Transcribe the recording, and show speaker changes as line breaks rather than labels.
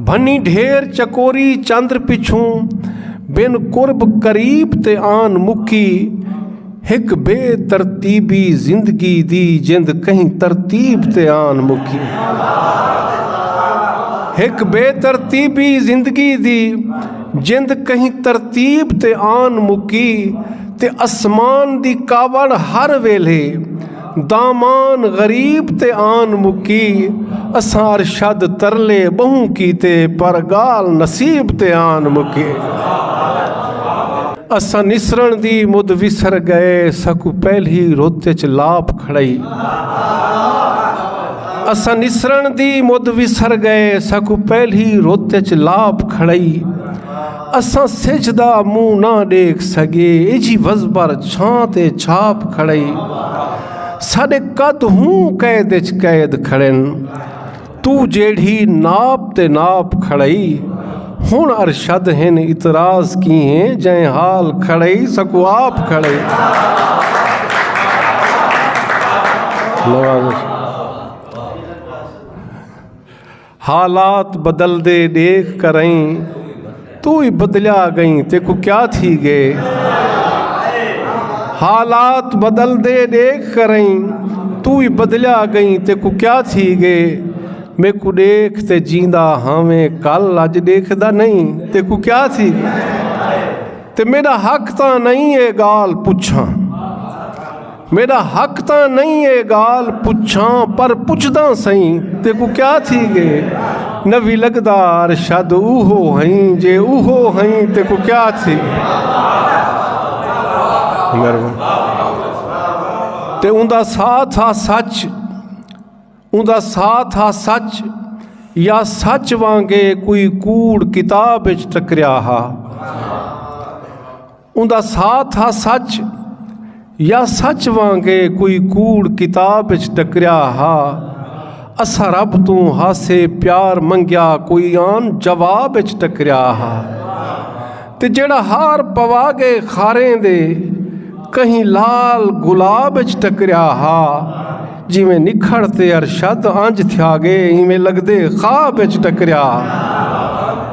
بھنی ڈھیر چکوری چندر پچھوں بن قرب قریب تے آن مکی ہک بے ترتیبی زندگی دی جند کہیں ترتیب تے آن مکی ہک بے ترتیبی زندگی دی جند کہیں ترتیب تے آن مکی تے اسمان دی کاوڑ ہر ویلے دامان غریب تے آن مکی اساں ارشد ترلے بہوں کیتے پر گال نصیب تے آن مکی اساں نسرن دی مد وسر گئے سکو پہلی رت چ لاپ کھڑائی اساں نسرن دی مد وسر گئے سکو پہلی رت چ لاپ کھڑائی اساں سجھ دا منہ نہ ڈیکھ سگے ایجھی وزبر چھاں تے چھاپ کھڑائی ساڈے قد ہوں قید اچ قید کھڑن تو جیڑھی ناپ تے ناپ کھڑائی ہن ارشد ہن اعتراض کی ہیں جائیں حال کھڑائی سکو آپ کھڑائی نواز حالات بدلدے ڈیکھ کرئیں تو ہی بدلیا گئیں تیکو کیا تھی گے حالات بدلدے ڈیکھ کرئیں تو ہی بدلیا گئیں تیکو کیا تھی گے میکو ڈیکھ تے جیندا ہاویں کل اج ڈیکھ دا نہیں تیکو کیا تھی گے تے میرا حق تاں نہیں ہے گال پچھاں میڈا حق تاں نئیں اے گال پچھاں پر پچھداں سئیں تیکوں کیا تھی گے نوی لگدا ارشد اوہو ہئیں جے اوہو ہئیں تیکوں کیا تھی تے اوندا ساتھ ہا سچ اوندا ساتھ ہا سچ یا سچ وانگے کوئی کوڑ کتاب اچ ٹکریا ہا اوندا ساتھ ہا سچ یا سچ وانگے کوئی کوڑ کتاب اچ ٹکریا ہا اساں رب توں ہاسے پیار منگیا کوئی آن جواب اچ ٹکریا ہا تے جڑا ہار پوا گئے خاریں دے کہیں لال گلاب اچ ٹکریا ہا جویں نکھڑ تے ارشد انج تھیا گئے ایویں لگدے خواب اچ ٹکریا ہا